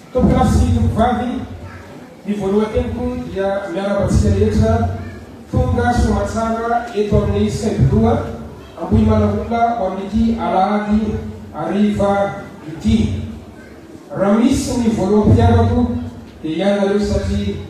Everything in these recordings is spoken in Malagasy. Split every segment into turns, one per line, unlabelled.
Tompon'andro sy tompovavy, ny voalohan-teniko dia miarahaba antsika rehetra tonga soamantsara eto amin'ny Saim-piloha Ambohimanahoana ho amin'ity alahady hariva ity. Raha misy ny voaloham-pitiavako dia ianareo satria.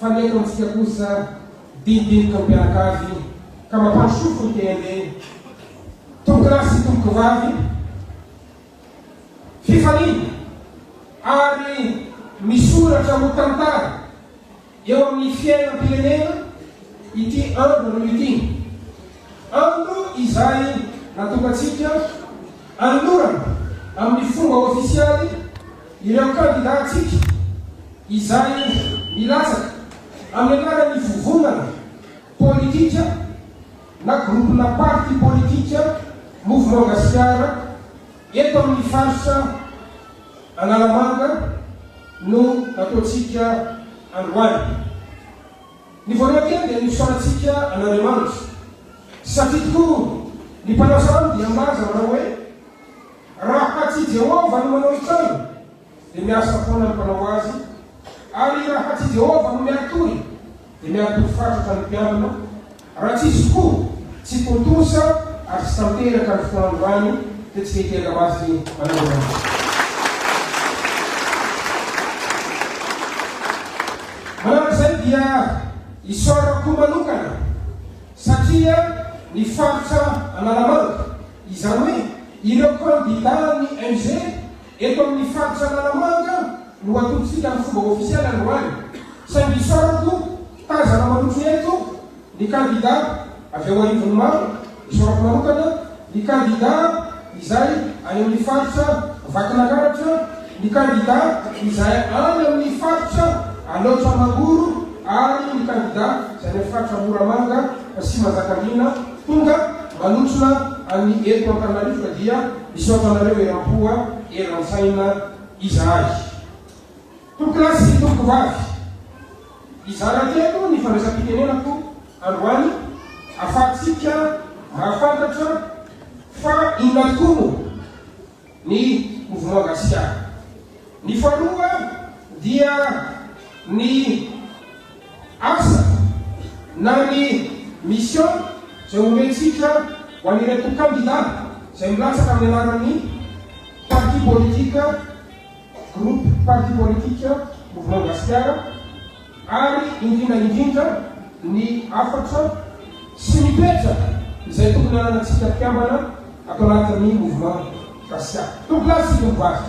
Fa ny eto amintsika kosa dinidinika mpianakavy ka mampandrosofo ny tenindeny. Tompokolahy sy tompokovavy fifaliana ary misoratra ho tantara eo amin'ny fiainam-pirenena ity andro anio ity. Andro izay natokantsika anolorana amin'ny fomba ofisialy Ireo kandidàntsika izay milatsaka amin'ny anaran'ny vovonana politika na groupena parti politika Mouvement Gasikara eto amin'ny faritra Analamanga no nataontsika androany. Ny voalohany teny dia ny fisaorantsika an'Andriamanitra satria tokoa ny mpanao sanamu dia milaza manao hoe. Raha tsy Jehovah no manao intsony, dia miasa foana ny mpanao azy, ary raha tsy Jehovah no miatory, dia miatory fatratra ny mpiambina, raha tsy izy tokoa, tsy tontosa ary tsy tanteraka ny fotoandro any, dia tsy mety hiaga maso ny mpanao izany. Manaraka izay dia isaorako manokana satria ny faritra Analamanga, Izany hoe ireo kandidà an'ny MG eto amin'ny faritra Analamanga no atolotsika amin'ny fomba ofisialy androany. Saingy isaorana tompoko, tazana manotro ihany tompoko ny kandidà avy ao arivony maro. Isaorako manokana ny kandidà izay any amin'ny faritra Vakinankaratra, ny kandidà izay any amin'ny faritra Alaotra Mangoro ary ny kandidà izay any amin'ny faritra Moramanga sy Manjakandriana. Tonga manotrona an'i eto Antananarivo ka dia misaotra anareo eram-po a, eran-tsaina izahay. Tompokolahy sy tompokovavy, hizara teto ny fandraisam-pitenenako androany ahafahantsika mahafantatra fa inona tokoa no. ny Mouvement Gasiana. Ny faharoa dia ny asa na ny mission izay omentsika ho an'ireto kandida izay milatsaka amin'ny anaran'ny parti politique. Groupe Parti Politique Mouvement Gasikara ary indrindra indrindra ny hafatra sy ny toetra izay tokony hananantsika mpikambana ato anatin'ny Mouvement Gasikara. Tompolahy sy tovovavy.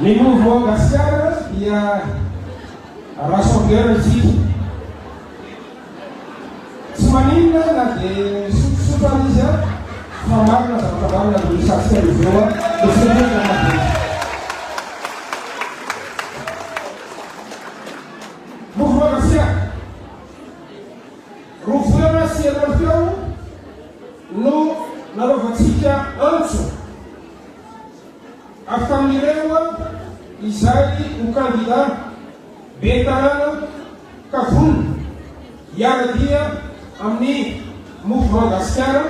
Ny mouvement Gasiana dia rassembleur isika. Tsy maninona na dia misotrosotro aza izy an, fa marina zavatra marina no resahantsika eo izao an, dia tsy mety hoe miala be. Roa volana sy efatra teo no nanaovantsika antso avy tamin'ireo izay ho kandida ben'ny tanàna ka vonona hiara-dia amin'ny Mouvement Gasikara.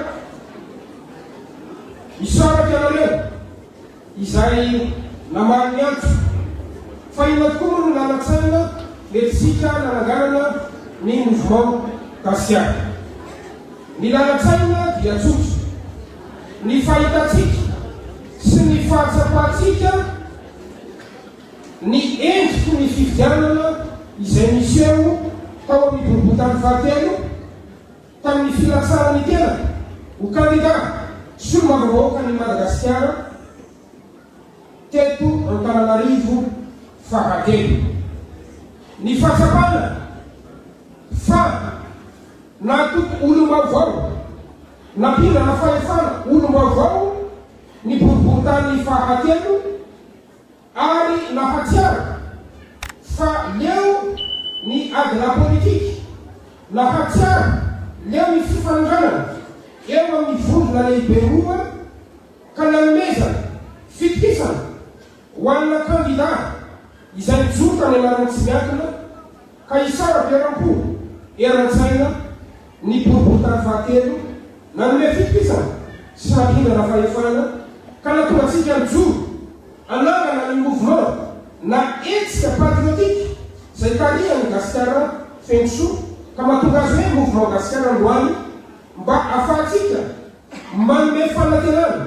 Misaraka ianareo. izay namaly ny antso. Fa inona tokoa moa no lalan-tsaina nentintsika nananganana ny Mouvement Gasiaka? Ny lalan-tsaina dia tsotra, ny fahitantsika sy ny fahatsapantsika ny endriky ny fifidianana izay niseho tao amin'ny boriborintany fahatelo, tamin'ny filatsahan'ny tenany ho kandidà solombavambahoakan'i Madagasikara teto Antananarivo fahatelo. Ny fahatsapana fa nahatoky olom-baovao, nampindrana fahefana olom-baovao ny boriborintany fahatelo, Ary nahatsiaro fa leo ny ady lapolitika, nahatsiaro leo ny fifanandranana eo amin'ny vondrona lehibe roa ka nanomezana fitokisana ho anà kandidà izay mijoro tany anarany tsy miankina, Ka hisaraka eram-po, eran-tsaina ny boriborintany fahatelo, nanome fitokisana sy fahatondrana fahefana ka nahatonga antsika nijoro hanangana ny mouvement na hetsika patriotique izay hitarihan'i Gasikara feno soa ka mahatonga azy hoe Mouvement Gasikara androany mba ahafahantsika manome fanantenana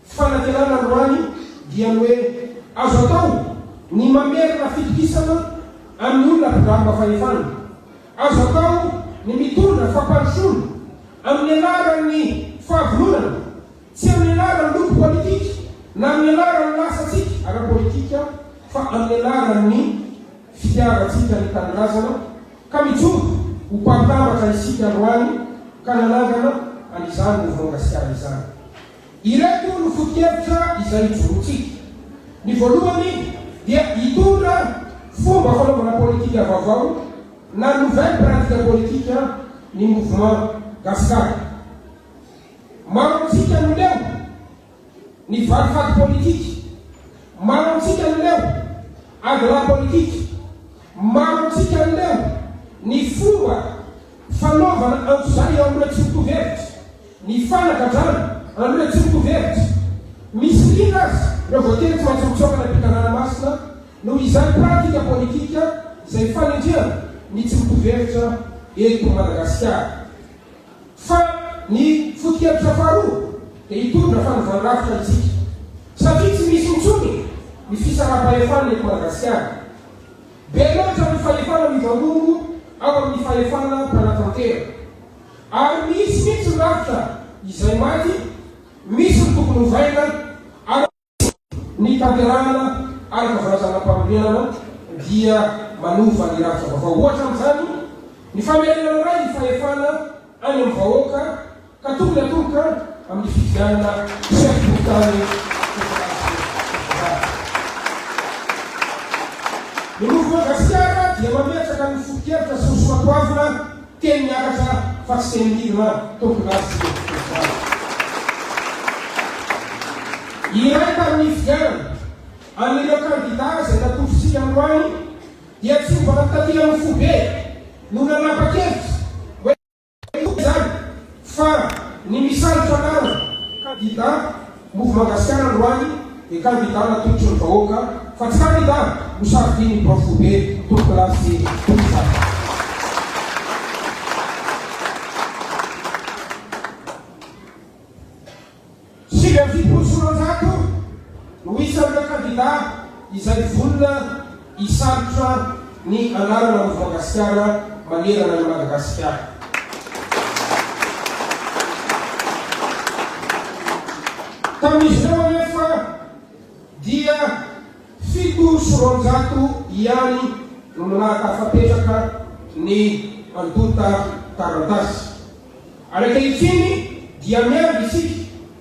Fanatenana androany dia ny hoe azo atao ny mamerina fitokisana amin'ny olona mpidaroka fahefana. Azo atao ny mitondra fampandrosoana amin'ny anaran'ny fahavononana, tsy amin'ny anaran'ny loko politika na amin'ny anaran'ny lasantsika ara-politika fa amin'ny anaran'ny fitiavantsika ny tanindrazana ka mijoro ho mpahantambatra isika androany ka nanangana an'izany Mouvement Gasikara izany. Ireto no foto-kevitra izay ijoroantsika. Ny voalohany dia hitondra fomba fanaovana politika vaovao na nouvelle pratique politique ny Mouvement Gasikara. Maro amintsika no leo ny valifaty politika, maro amintsika no leo ady lahy politika, maro amintsika no leo ny fomba fanaovana antsojay eo amin'ireo tsy mitovy hevitra. Ny fanagadrana an'ireo tsy mitovy hevitra. Misy liana aza ireo voatery tsy maintsy mitsoaka any am-pitanàna masina noho izany pratika politika izay fanendrehana ny tsy mitovy hevitra eto Madagasikara. Fa ny foto-kevitra faharoa dia hitondra fanovàn-drafitra antsika satria tsy misy intsony ny fisaraham-pahefana eto Madagasikara. Be loatra ny fahefana mivangongo ao amin'ny fahefana mpanatantera. Ary misy mihitsy ny rafitra izay maty, misy ny tokony hovaina, ary misy ny tanterahana araka fanazanam-panorenana dia manova ny rafitra vaovao. Ohatra amin'izany ny famerenana indray ny fahefana any amin'ny vahoaka ka tokony hatolotra amin'ny fifidianana chef de tany federasiona. Ny Mouvement Gasikara dia mametraka ny foto-kevitra sy ny soatoavina Teny miakatra fa tsy teny midina an! Tompony azy isika mpitory izany. Iray tamin'ny nifidianana an'ireo kandidà izay natolotr'isika androany dia tsy mba nitatiran'ny foibe no nanapa-kevitra hoe hitory izany fa ny misalotra anarana kandidà Move Magasikara androany ny kandida natolotry ny vahoaka fa tsy kandida no safidian'ny prof foibe, tolonkolato sy mpitsabo. Sivy amby fitopolo sy roanjato no isan'ireo kandida izay vonona. Hisarotra ny anarana Mofoagasikara manerana an'i Madagasikara. Tamin'izy ireo anefa dia fito sy roanjato ihany no nahatafapetraka ny antonta taratasy. Ary ankehitriny dia miandry isika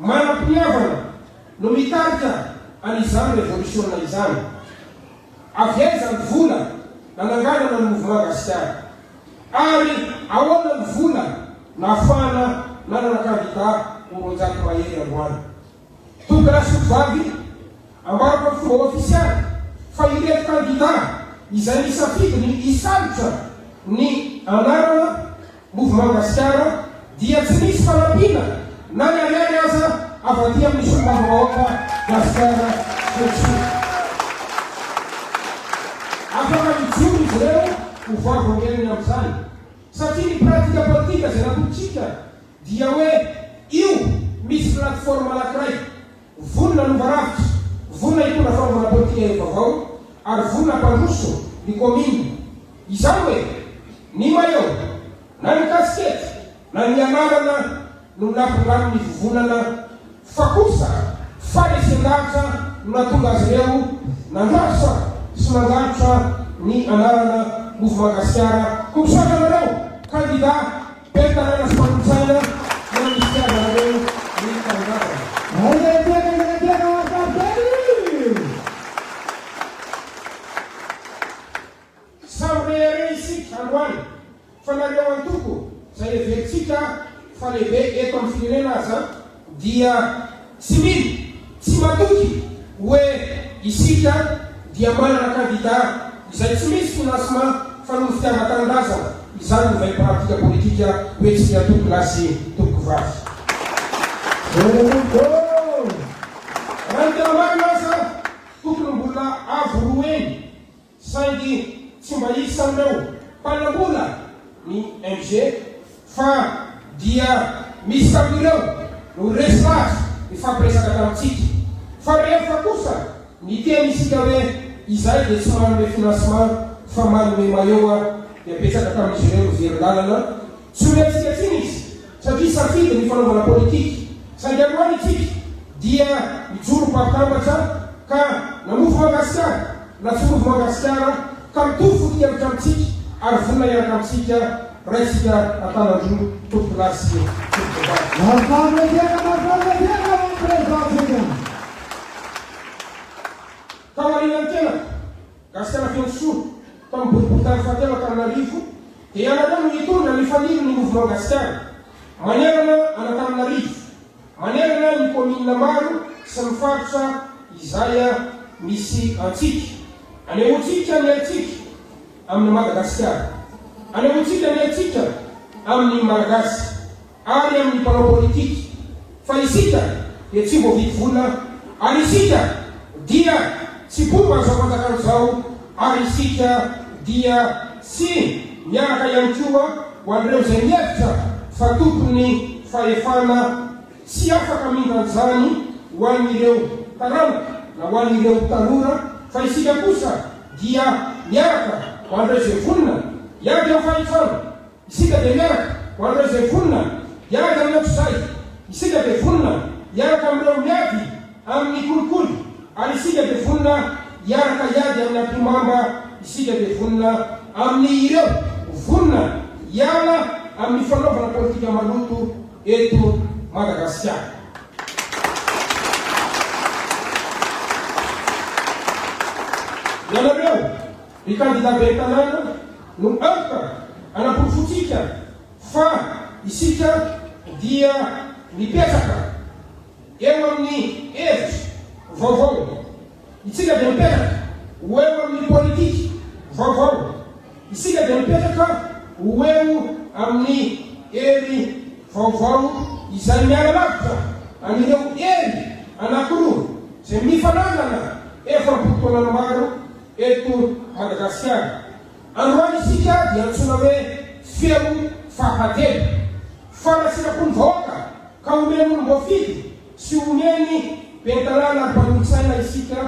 Manam-piniavana no mitarika an'izany revolisiona izany. Avy aiza ny vola nananganana ny Mouvement Gasikara? Ary ahoana ny vola nahafahana nanana kandida ho roanjato mahery androany? Douglas Sotovavy, Ambarako amin'ny fomba ofisialy fa ireto kandida izay nisafidiny hisalotra ny anarana, Mouvement Gasikara dia tsy misy fanampiana na ny ariary aza avy aty amin'ny Solombavambahoaka Gasikara sy Rejony. Afaka mijoro izy ireo ho vavolombelony amin'izany satria ny pratika politika izay natorontsika dia hoe io misy plateforme anankiray, Vonona hanova rafitra, vonona hitondra fanaovana politika hery vaovao ary vonona hampandroso ny kaominina. Izany hoe, ny maillot, na ny kasikety, na ny anarana no nampindramin'ny vovonana fa kosa faharesen-dahatra no nahatonga azy ireo nandrasa sy nandratra ny anarana Mouvement Gasikara. Ho tsoahatra anareo, kandida. Fitantanana sy fanontsaina nandrisika azy ireo nitangavana. Aiza ilay toerana izay naterana ho azy ravin-kely? Samy rehareha isika androany fa nareo antoko izay heverintsika fa lehibe eto amin'ny firenena aza, dia tsy mino, tsy matoky hoe isika dia manana kandida izay tsy misy financement fa noho fitiavan-tanindrazana, izany no vaim-paradika politika hoentsin'ny antoko lahy sy toko vavy. Raha ny tena marina aza, tokony mbola avo roa heny. Saingy tsy mba isan'ireo mpanambola ny MG fa dia misy tamin'ireo no resy lahatra nifampiresaka tamintsika. Fa rehefa kosa niteny isika hoe izahay dia tsy manome financement fa manome maillot dia betsaka tamin'izy ireo no very lalana. Tsy ho hetsika intsony izy satria safidy ny fanaovana politika. Saingy androany isika dia mijoro mpari-tambatra ka namofo Mangasikara na tsy mofo Mangasikara ka mitovy foto-kevitra amintsika ary vonona hiaraka amintsika raisika an-tanan-droa tompokolahy sy tompokvavy. Mahafaly ny fiainana, mahafaly ny fiainana hoan'ny Président-tsika. Taorian'ny tenako, Gasikara Feno Soa, tamin'ny boriborintany fahatelo Antananarivo, dia ianareo no hitondra ny faniry ny Mouvement Gasikara, manerana an'Antananarivo, manerana ny Kaominina maro sy ny faritra izay misy antsika. Anehoantsika ny haintsika amin'i Madagasikara. Anehoantsika ny haintsika amin'ny Malagasy. ary amin'ny mpanao politika fa isika dia tsy voavidy vola ary isika dia tsy mpomba izao fanjakana izao ary isika dia tsy miaraka ihany koa ho an'ireo izay mihevitra fa tompon'ny fahefana tsy afaka hamindra an'izany ho an'ireo taranaka na ho an'ireo tanora fa isika kosa dia miaraka ho an'ireo izay vonona hiady amin'ny fahefana. Isika dia miaraka, ho an'ireo izay vonona hiaraka aminao tsodray, isika dia vonona hiaraka amin'ireo miady amin'ny kolikoly, ary isika dia vonona hiaraka hiady amin'ny ampihomamba, isika dia vonona amin'ny ireo vonona hiala amin'ny fanaovana politika maloto eto Madagasikara. Ianareo Ny kandida ben'ny tanàna no antoka hanaporofoantsika fa isika dia mipetraka eo amin'ny hevitra vaovao. Isika dia mipetraka ho eo amin'ny politika vaovao. Isika dia mipetraka ho eo amin'ny hery vaovao izay miala lavitra an'ireo hery anankiroa izay mifanandrina efa am-potoanana maro. Eto Madagasikara, androany isika dia antsoina hoe feo fahatelo. Fanasitram-po ny vahoaka ka omeny olom-boafidy sy omeny ben'ny tanàna ary mpanolotsaina isika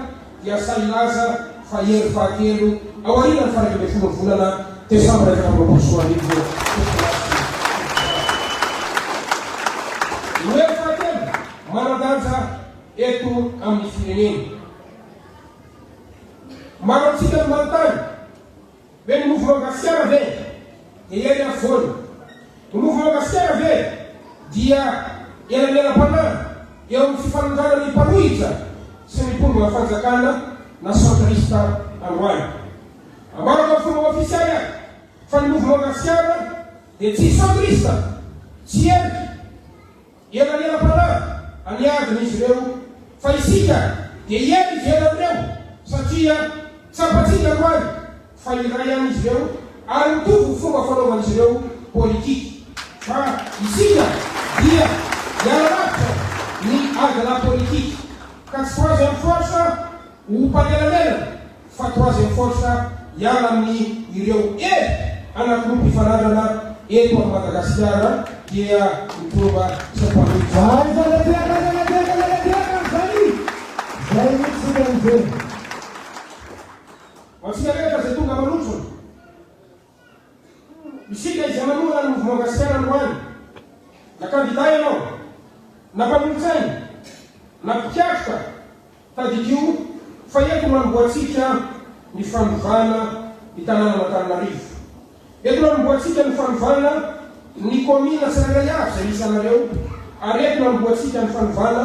dia sahy hilaza fa hery fahatelo aorianan'ny faha-iraika ambin'ny folon'ny volana desambra efatra amby roapolo sy roa arivo eto Madagasikara. Ny hery fahatelo manan-danja eto amin'ny firenena. Maro amintsika no manontany hoe ny Mouvement Gasiana ve dia ihaino afovoany? Ny Mouvement Gasiana ve dia elanelam-panahy eo amin'ny fifanandràna ny mpanohitra sy ny mpondronà fanjakana na centriste androany? Ambarako amin'ny fomba ofisialy aho fa ny Mouvement Gasiana dia tsy centriste, tsy heloka, Elanelampanahy any adina izy ireo, fa isika dia eny ivelan'ireo, satria tsapantsika androany fa iray ihany izy ireo ary mitovy ny fomba fanaovan'izy ireo politika. Fa isika dia hiala lavitra ny adinà politika, ka tsy ho azo ihany force. Ho mpanelanelana fa troisième force hiala amin ireo hery anankiroa mpifanandrina eto am Madagasikara dia ny trova sy ny mpanohitra. Aiza le diaka aiza le diaka aiza le diaka ry zani zay mitsy sika mijery. Ho antsika rehetra izay tonga manotrona. Isika izay manohana ny Mouvement Gasikara androany, na kandida ianao, na mpanolotsaina, na mpikatroka, tadidio fa eto no anombohantsika ny fanovana ny tanànan'Antananarivo. Eto no anombohantsika ny fanovana ny kaominina tsirairay avy izay isanareo, ary eto no anombohantsika ny fanovana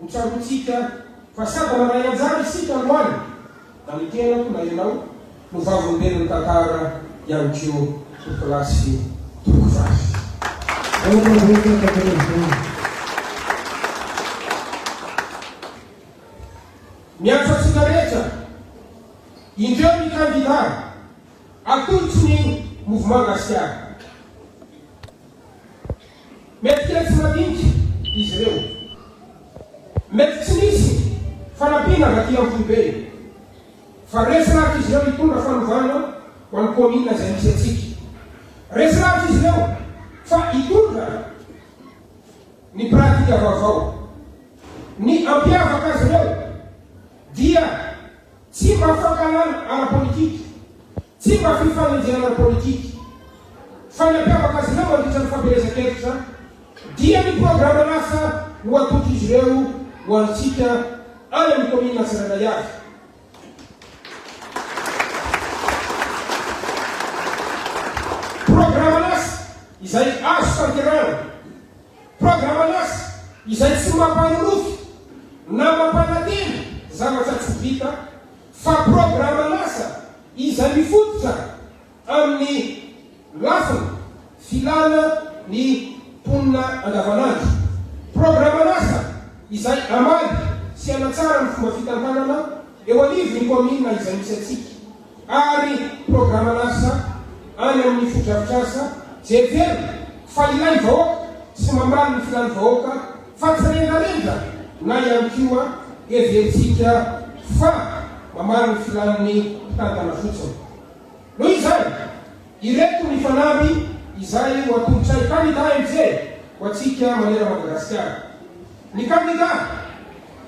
Ho tsaroantsika fa sady mandray anjara isika androany, na ny tenako na ianao no vavolombelon'ny tantara ihany koa ho kilasy tompoko vavy. Miantso antsika rehetra, indreo ny kandida, atolotry ny Mouvement Gasikara. Mety kely tsy madinika izy ireo. Mety tsy misy fanampiana avy aty amin'ny foibe. Fa resy lavitra izy ireo hitondra fanovana ho an'ny kaominina izay misy antsika. Resy lavitra izy ireo fa hitondra ny pratika vaovao. Ny hampiavaka azy ireo dia tsy mba fankahalana ara-politika. Tsy mba fifanenjehana politika fa ny hampiavaka azy ireo mandritra ny fampielezan-kevitra dia ny programan'asa ho atolotrin'izy ireo ho antsika any amin'ny kaominina tsirairay avy. Programan'asa izay azo tanterahana. Programan'asa izay tsy mampanonofy na mampanantena zavatra tsy vita fa programan'asa izay mifototra amin'ny lafiny filana ny mponina andavanandro, programan'asa izay hamaly sy hanatsara ny fomba fitantanana eo anivon'ny kaominina izay misy antsika ary programan'asa any amin'ny fotodrafitrasa jery velona fa ilain'ny vahoaka sy mamaly ny filan'ny vahoaka Fa tsy rendrarendra na ihany koa heverintsika fa mamaly ny filàn'ny mpitantana fotsiny. Noho izany, ireto ny fanamby izay ho atolotray kandidà MJ ho antsika maneran Madagasikara. Ny kandidà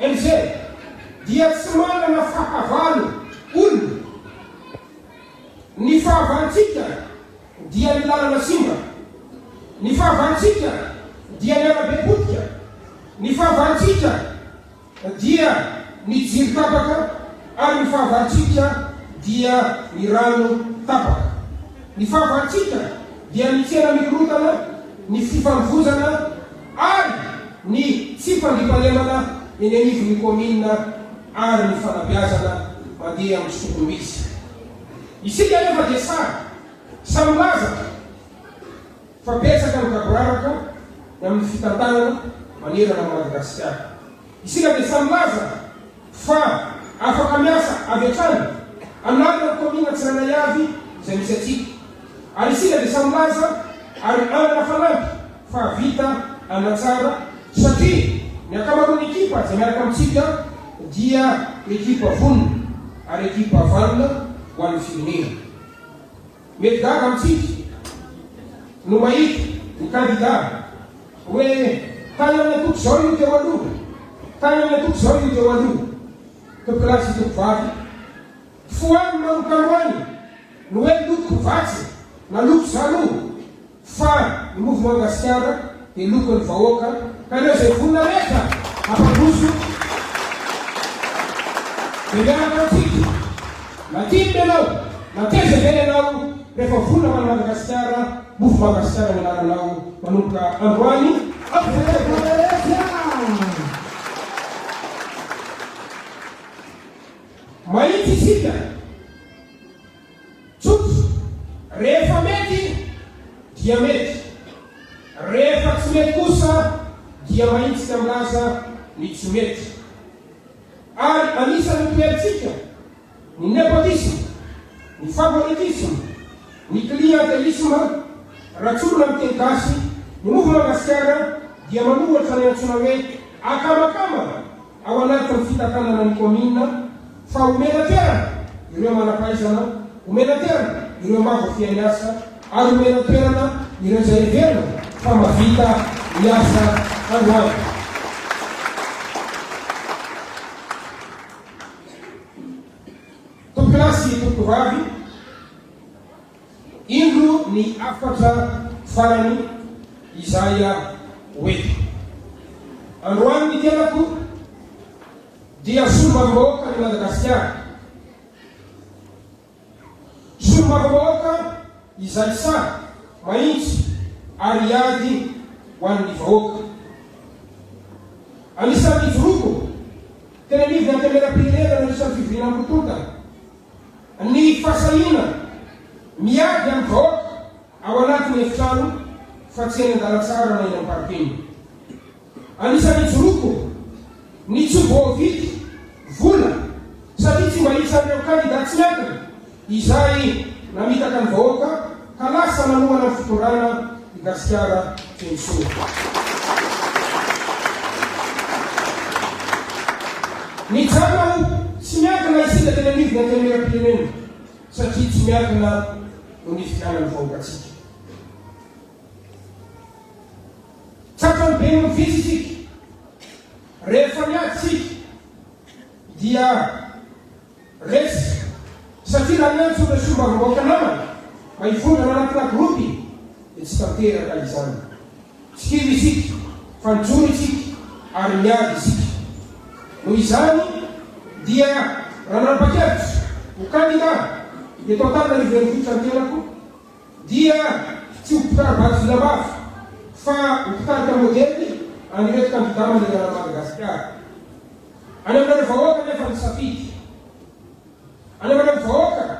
MJ dia tsy manana fahavalo olona. Ny fahavalontsika. dia ny lalana simba, ny fahavalontsika dia ny arabe potika, ny fahavalontsika dia ny jiro tapaka ary ny fahavalontsika dia ny rano tapaka, ny fahavalontsika dia ny tsena mikorontana, ny fifamovoizana ary ny tsy fandriampahalemana eny anivon'ny kaominina ary ny fanabeazana mandeha amin'ny soatoavina izy. Isika anefa dia sahy sahy milaza fa betsaka ny gaboraraka ny amin'ny fitantanana manerana an'i Madagasikara. Isika dia sahy milaza fa afaka miasa avy hatrany an'alina ny kaominina tsirairay avy izay misy antsika. Ary isika dia sahy milaza ary hanana fanampy. fa vita hanatsara satria ny ankamaroan'ny ekipa izay miaraka amintsika dia ekipa vonona ary ekipa vanona ho an'ny firenena. Mety gaga amintsika no mahita ny kandida hoe tany amin'ny antoko izao io teo aloha, tany amin'ny antoko izao io teo aloha. Tompolahy sy tompovavy, fohano manokan'ho any ny hoe loko vatsy na loko zaloha. Fa ny mouvement Gasikara dia lokon'ny vahoaka ka ireo izay vonona rehetra hampandroso dia miaraka amintsika. Na tia ny ianao na taiza izay ianao rehefa vonona ho an'i Madagasikara, mouvement Gasikara no anaranao manomboka androany hatramin'izay. Mahitsy isika. Tsotra, rehefa mety dia mety, rehefa tsy mety kosa dia mahitsika milaza ny tsy mety. Ary anisan'ny toerantsika ny nepotisme, ny favoritisme, ny clientelisme, raha tsorina amin'ny teny gasy, ny Mouvement Gasikara dia manohatra ny antsoina hoe akamakama Ao anatin'ny fitakanana ny kaominina fa omena toerana ireo manam-pahaizana, omena toerana ireo mavo fy any asa ary omena toerana ireo izay heverina fa mahavita ny asa androany. Tompolahy sy tompokovavy. Indro ny hafatra farany izay ho eto. Androany ny tenako dia solombavambahoakan'i Madagasikara. Solombavambahoaka izay sahy mahitsy ary hiady ho an'ny vahoaka. Anisan'ny nijoroako teny anivon'ny Antenimierampirenena nandritra ny fivoriana am-potoana. Ny fahasahiana miady amin'ny vahoaka ao anatin'ny efitrano fa tsy eny an-dalantsara na eny amin'ny parking. Anisan'ny hijoroako ny tsy voavidy vola satria tsy mba isan'ireo kandida tsy miankina izay namitaka ny vahoaka. Ka lasa nanomana ny fitondrana i Gasikara teny soa. Nijanona ho tsy miankina isika teny anivon'ny antenimieram-pirenena satria tsy miankina no nifidianan'ny vahoaka antsika. Tratran'ny be no vitsy isika. Rehefa niady isika dia. Resy, satria raha niantso ireo solombavambahoaka namana mba hivondrona anatina gropy dia tsy tanteraka izany. Tsy kivy isika fa nijoro isika ary niady isika. Noho izany dia raha nanapa-kevitra ho kandida teto Antananarivo Renivohitra ny tenako dia tsy ho mpitari-bato vinambavy fa ho mpitarika modely an'ireto kandida manerana an'i Madagasikara. Anaovana vahoaka anefa ny safidy. Anaovana ny vahoaka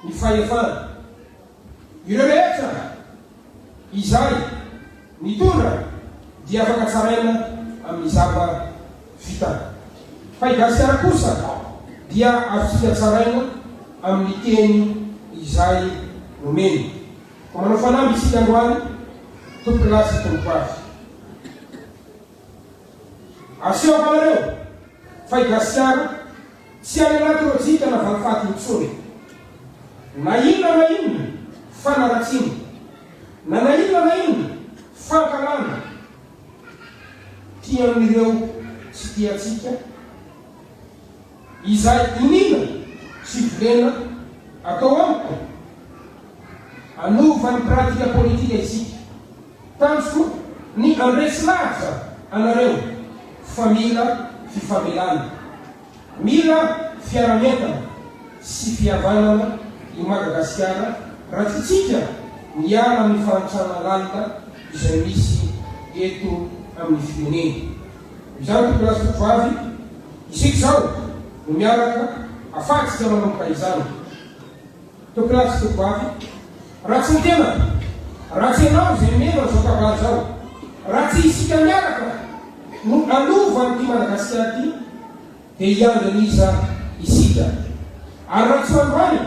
ny fahefana. Ireo rehetra izay nitondra dia afaka tsaraina amin'ny zava vita. Fa i Gasikara kosa dia azotsika tsaraina amin'ny teny izay nomeny. Koa manao fanamby isika androany, Tompokolahy sy Tompokovavy. Asehoako anareo fa i Gasiana tsy any anaty lojika na valifaty intsony. Na inona na inona fanaratsiana, na na inona na inona fankahalana tian' ireo tsy tia antsika, izay iniana sy volena atao amiko hanova ny pratika politika isika. Tanjoko ny andresy lahatra anareo fa mila fifamelana, mila fiaramientana sy fihavanana i Madagasikara raha tsy tsika miala amin'ny fahantrana lalina izay misy eto amin'ny firenena. Izany tokony lasa toko vavy isika izao no miaraka afatsika manomboka izany. Tokin'ady sy tokovavy, ratsy ny tenako, ratsy ianao izay mino an'izao kabary izao, ratsy isika miaraka no hanova an'ity Madagasikara ity dia hiandry an'iza isika? Ary raha tsy ho androany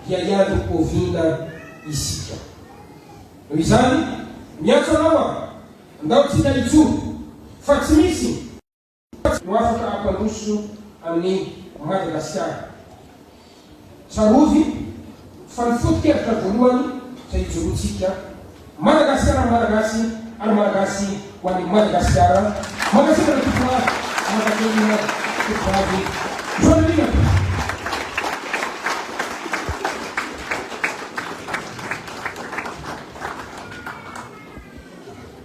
dia hiandry oviana isika? Noho izany, miantso anao aho, ndao tsika hijoro fa tsy misy. Tsy ho afaka hampandroso an'i Madagasikara. Tsarovy fa ny foto-kevitra voalohany izay ijoroantsika, Madagasikara ho Malagasy ary Malagasy ho an'i Madagasikara. Mankasitraka ny Tompon'Hoavy Amam-paniriana Tovovavy Joelina Biko.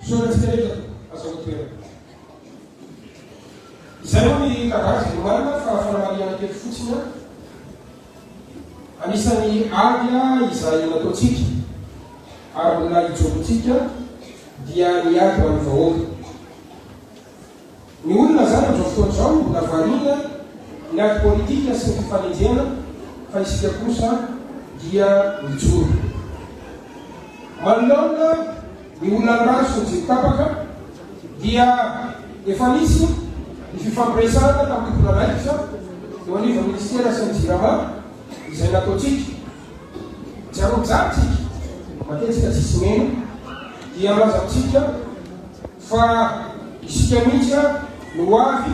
Fisaorantsika rehetra azo an-toerana. Izay moa ny kabary izay nomarina fa fanamariana kely fotsiny anisan'ny ady izay nataontsika ary mbola hijoroantsika dia ny ady ho an'ny vahoaka. Ny olona izany amin'izao fotoana izao mbola variana ny ady politika sy ny fifanenjehana fa isika kosa dia mijoro. Manoloana ny olan'ny rano sy ny jiro tapaka dia efa nisy ny fifampiresahana tamin'ny tompon'andraikitra eo anivon'ny minisitera sy ny Jirama izay nataontsika. Jarojarontsika matetika tsisy meno dia milaza amintsika Fa isika mihitsy no ho avy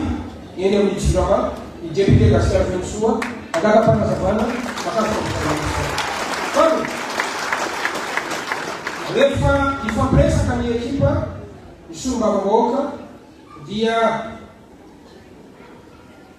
eny amin'ny Jirama, ny député Gasikara Fenosoa, hangala fanazavana mahakasika ny zava-misy izao. Fa rehefa hifampiresaka ny ekipa, ny solombavambahoaka dia.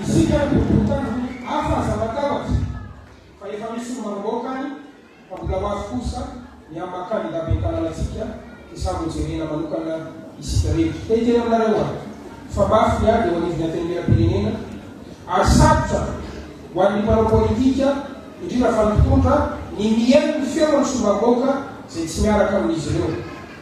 Isika ary boribory tanana hafa aza matahotra fa efa misy ny manomboka any fa mbola ho avy kosa ny amin'ny maha kandida ben'ny tanàna antsika dia samy ho jerena manokana isika rehetra. Te hiteny aminareo aho fa mafy ny ady eo anivon'ny Antenimieram-pirenena ary sarotra ho an'ny mpanao politika indrindra fa ny mpitondra ny mihaino ny feon'ny sombam-bahoaka izay tsy miaraka amin'izy ireo.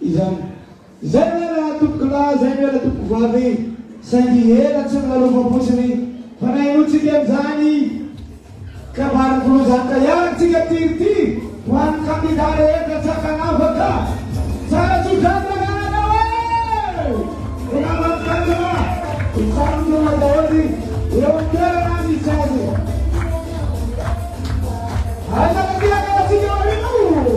Izany. Izay ve ilay antoko lahy izay no ela tompoko vavy e! Saingy ela tsy nolalofam-potsiny fa nahenoantsika an'izany kabary volon-janaka ihany tsika tiry ty ho an'ny kandida rehetra tsakan'afa ka! Tsara tso-drano ny anarao e! Ho naman'ny tanora, mifanolona daholo eo an-toerana ny sazy. Aiza ny aty aloha tsika aoriana o!